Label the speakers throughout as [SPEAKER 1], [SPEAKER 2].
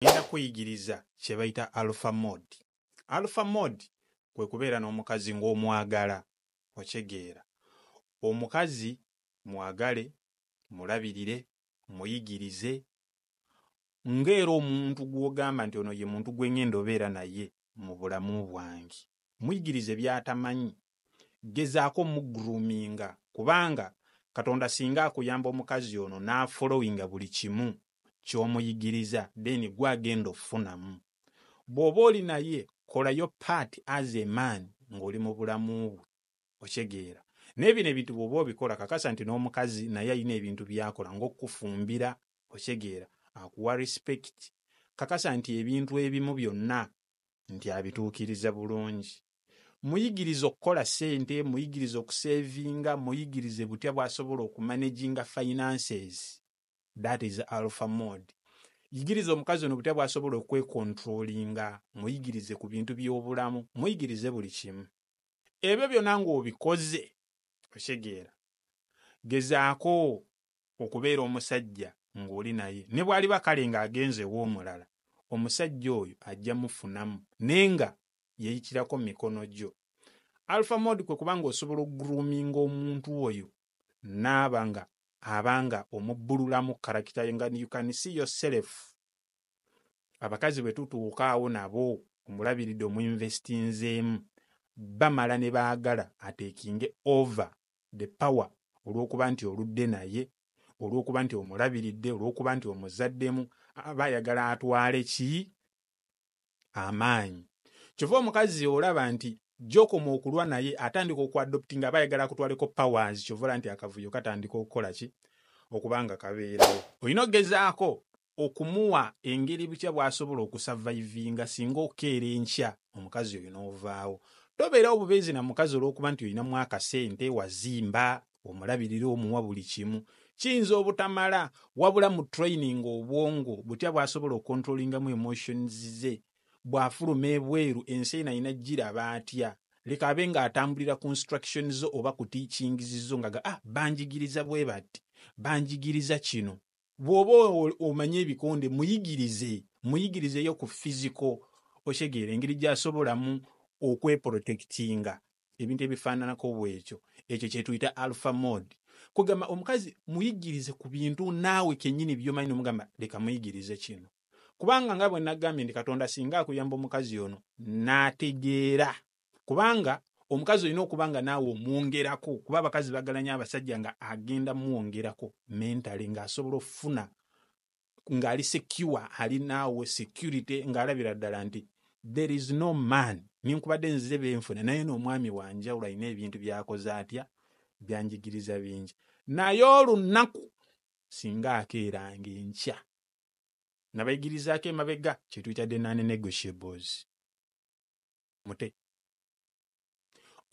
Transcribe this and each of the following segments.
[SPEAKER 1] ngenda kuyigiriza kye bayita alpha mode. Alpha mode kwe kubeera n'omukazi ng'omwagala, okyegeera. Omukazi mwagale, mulabirire, muyigirize, ng'era omuntu gw'ogamba nti ono ye muntu gwe ngenda obeera naye mu bulamu bwange. Muyigirize by'atamanyi. Gezaako omugroominga kubanga Katonda singa akuyamba omukazi ono n'afollowinga buli kimu ky'omuyigiriza then gwe agenda ofunamu. Bw'oba oli naye kola your part as a man ng'oli mu bulamu bwe. okitegeera naye bino ebintu bwoba obikola kakasa nti n'omukazi naye alina ebintu byakola ngaokukufumbira okitegeera akuwa respect kakasa nti ebintu ebimu byonna nti abituukiriza bulungi muyigiriza okukola sente muyigiriza okusevinga muyigirize butya bwasobola okumanaginga finances that is alpha mode yigiriza omukazi ono butya bwasobola okwekontrolinga muyigirize ku bintu by'obulamu muyigirize buli kimu ebyo byona ng'obikoze okitegeera gezaako okubeera omusajja ng'oli naye ne bw'aliba kale ng'agenze ew'omulala omusajja oyo ajja mufunamu naye nga yayitirako mu mikono gyo alpha mode kwe kuba ng'osobola okugroominga omuntu oyo n'aba nga aba nga omubbululamu karakita ye nga you can see yourself abakazi bwe tutuukaawo nabo omulabiridde omuinvestinzeemu bamala ne baagala ateekinge over the power olw'okuba nti oludde naye olw'okuba nti omulabiridde olw'okuba nti omuzaddemu aba ayagala atwale ki amaanyi kyova omukazi olaba nti gyokoma okulwa naye atandika okuadopting aba ayagala akutwaleko powers kyova olaba nti akavuyo katandika okukola ki okuba nga kabeerawo olina okugezaako okumuwa engeri butya bwasobola okusavaivinga singa okeera enkya omukazi oyo n'ovaawo tobeerawo bubeezi na mukazi olwokuba nti olinamu akasente wazimba omulabirira omuwa buli kimu kiyinza obutamala wabula mu training obwongo butya bwasobola okontrolingamu emotions ze bwafuluma ebweru ensi eno alina giraba atya leka abe nga atambulira ku instruction zo oba ku teachings zo nga ah banjigiriza bwe bati banjigiriza kino bw'oba omanyi ebikonde muyigirize muyigirizeyo ku fiziko okitegeera engeri gy'asobolamu okweporotekitinga ebintu ebifaananako bwekyo ekyo kyetuyita alpha mode kwegamba omukazi muyigirize ku bintu naawe kennyini byomanyi nomugamba leka muyigirize kino kubanga nga bwe nagambye nti katonda singa akuyamba omukazi ono n'ategeera kubanga omukazi olina okuba nga naawe omwongerako kuba abakazi bagalanya abasajja nga agenda mwongerako mentale ng'asobola okufuna ng'ali secure ali naawe security ng'alabira ddala nti there is no man nenkubadde nzize benfuna naye n'omwami wanjawulo alina ebintu byakoze atya byanjigiriza bingi naye olunnaku singa akeeranga enkya nabayigirizaako emabega kyetuyita denane negotiables mute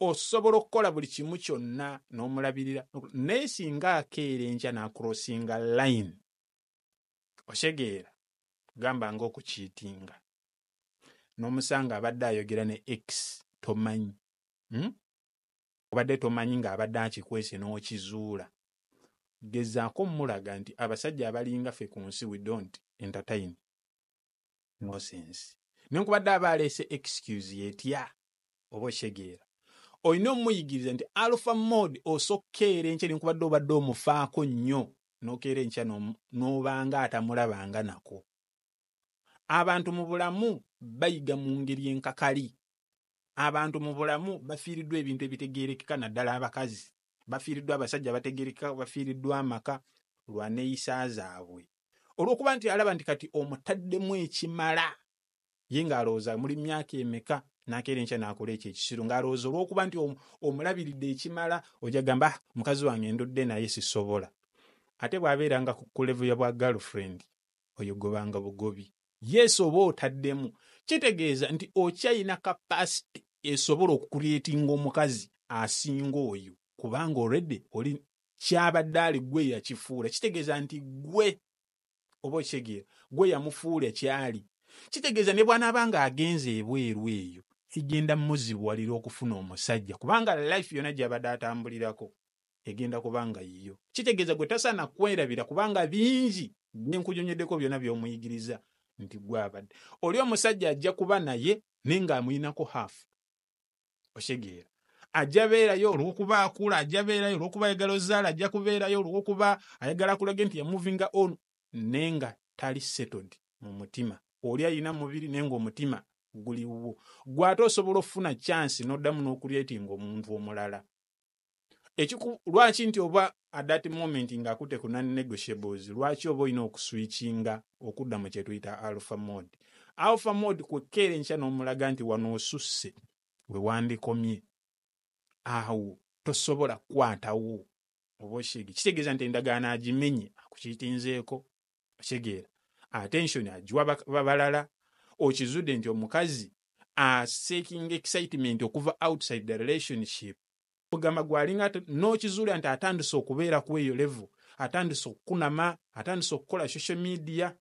[SPEAKER 1] osobola okukola buli kimu kyonna n'omulabirira naye singa akeera enkya n'akurosinga line otegeera gamba nga okukiitinga n'omusanga abadde ayogera ne x tomanyi hmm? obadde tomanyi ng'abadde akikwese n'okizuula gezaako mulaga nti abasajja abalinga ffe ku nsi we don't entertain nosense nenkubadde aba aleese excuse yetya oba okitegeera olina omuyigiriza nti alpha mode osokkeera enkya nenkubadde obadde omufaako nnyo nokeera enkya n'omu- n'obanga atamulabanga nako abantu mu bulamu bayiga mu ngeri enkakali Abantu mu bulamu bafiiriddwa ebintu ebitegeerekeka naddala abakazi. Bafiiriddwa abasajja abategeerekeka, bafiiriddwa amaka lwa neeyisa zaabwe. Olw'okuba nti alaba nti kati omutaddemu ekimala, ye ng'alowooza muli myaka emeka n'akeera enkya n'akola ekyo ekisiru ng'alowooza olw'okuba nti omulabiridde ekimala ojja gamba ah, mukazi wange ndudde naye sisobola. Ate bw'abeeranga ku level ya bwa girlfriend oyo gobanga bugobi. Yes oba otaddemu kitegeeza nti okyayina capacity esobola okucreatinga omukazi asinga oyo kubanga already oli kyabadde ali gwe yakifuula kitegeeza nti gwe oba okitegeera gwe yamufuula kyali kitegeeza ne bwanaaba nga agenze ebweru eyo kigenda muzibuwalira okufuna omusajja kubanga life yona gyabadde atambulirako egenda kuba nga yiyo. Kitegeeza gwe tasaana kwerabira kubanga bingi bye nkunyonyoddeko byona by'omuyigiriza nti gwe abadde. Oli omusajja ajja kuba naye naye nga amulinako half. Okitegeera. Ajja beerayo olw'okuba akula, ajja beerayo olw'okuba ayagala ozaale, ajja kubeerayo olw'okuba ayagala akulage nti ya movinga on naye nga tali settled mu mutima. Oli alina mubiri naye nga omutima guli wuwo. Gwe ate osobola okufuna chance n'oddamu n'okureatinga omuntu omulala. ekiku lwaki nti oba at that moment nga akute ku non negotiables lwaki oba olina okuswitchinga okudda mu kyetuyita alpha mode alpha mode kwekkeera enkya n'omulaga nti wano osusse we wandikomye awo tosobola kukwatawo oba oshege kitegeeza nti endagaano agimenye akukiitinzeeko okitegeera attention agiwa bak- ba- balala okizudde nti omukazi aseekinga excitement okuva outside the relationship ogamba gwalinga ate- n'okizuula nti atandise okubeera ku eyo level atandise okukunama atandise okukola social media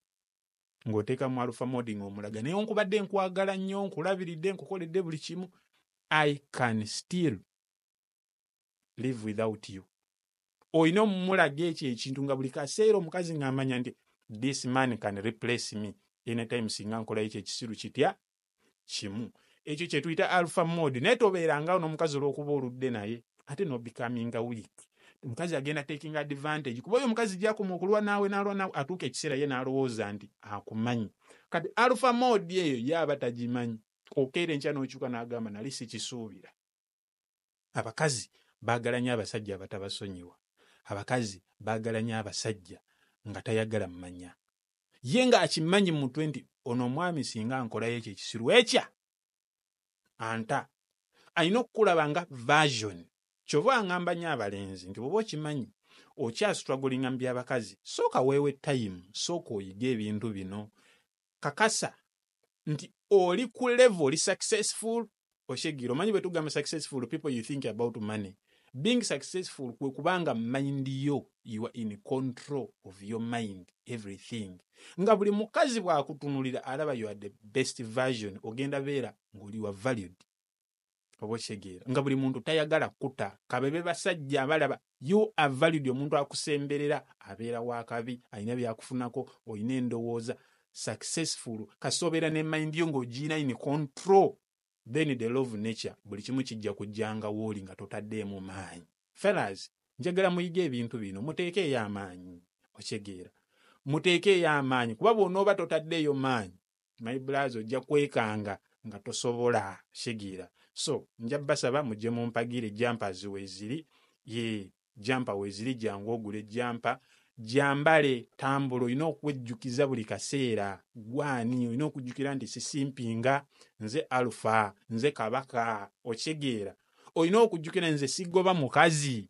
[SPEAKER 1] ng'oteeka mu alpha mode ng'omulaga naye nkubadde nkwagala nnyo nkulabiridde nkukoledde buli kimu i can still live without you olina omulaga ekyo ekintu nga buli kaseera omukazi ng'amanya nti this man can replace me anytime singa nkolayo ekyo ekisiru kitya kimu ekyo kye tuyita alpha mode naye tobeerangawo n'omukazi olw'okuba oludde naye ate n'obikaminga week omukazi agenda taking advantage kuba oyo omukazi gyakoma okulwa naawe naalwa naawe atuuka ekiseera ye n'alowooza nti akumanyi kati alpha mode eyo ye aba tagimanyi okeera enkya n'okyuka n'agamba nali sikisuubira abakazi baagala nnyo abasajja abatabasonyiwa abakazi baagala nnyo abasajja nga tayagala mmanya ye ng'akimanyi mu mutwe nti ono omwami singa nkolayo ekyo ekisiru ekya anta alina okukulaba nga version kyova angamba nyo abalenzi nti bwoba okimanyi okyasitwagolinga mu byabakazi sooka weewe tayimu sooka oyige ebintu bino kakasa nti oli ku level oli successful oshegiro manyi bwetugamba successful people you think about money being successful kwe kubanga mind yo you are in control of your mind everything nga buli mukazi bwakutunulira alaba you are the best version ogenda beera ngoli wa valued oba okitegeera nga buli muntu tayagala kuta kabebe basajja abalaba you are valid omuntu akusemberera abeera wakabi alina byakufunako olina endowooza successful kasita obeera ne mind yo ng'ogiina in control then the love nature buli kimu kijja kujjanga wooli nga totaddeemu maanyi fellas njagala muyige ebintu bino muteekeeyo amaanyi okitegeera muteekeeyo amaanyi kuba bw'onooba totaddeeyo maanyi my blaza ojja kwekanga nga tosobola sigiira so nja basaba mujje mumpagire jampa ziweziri ye jampa weziri jangu ogule jampa jambale tambula olina okwejjukiza buli kaseera gwani olina okujjukira nti sisimpinga nze alufa nze kabaka okitegeera olina okujjukira nze sigoba mukazi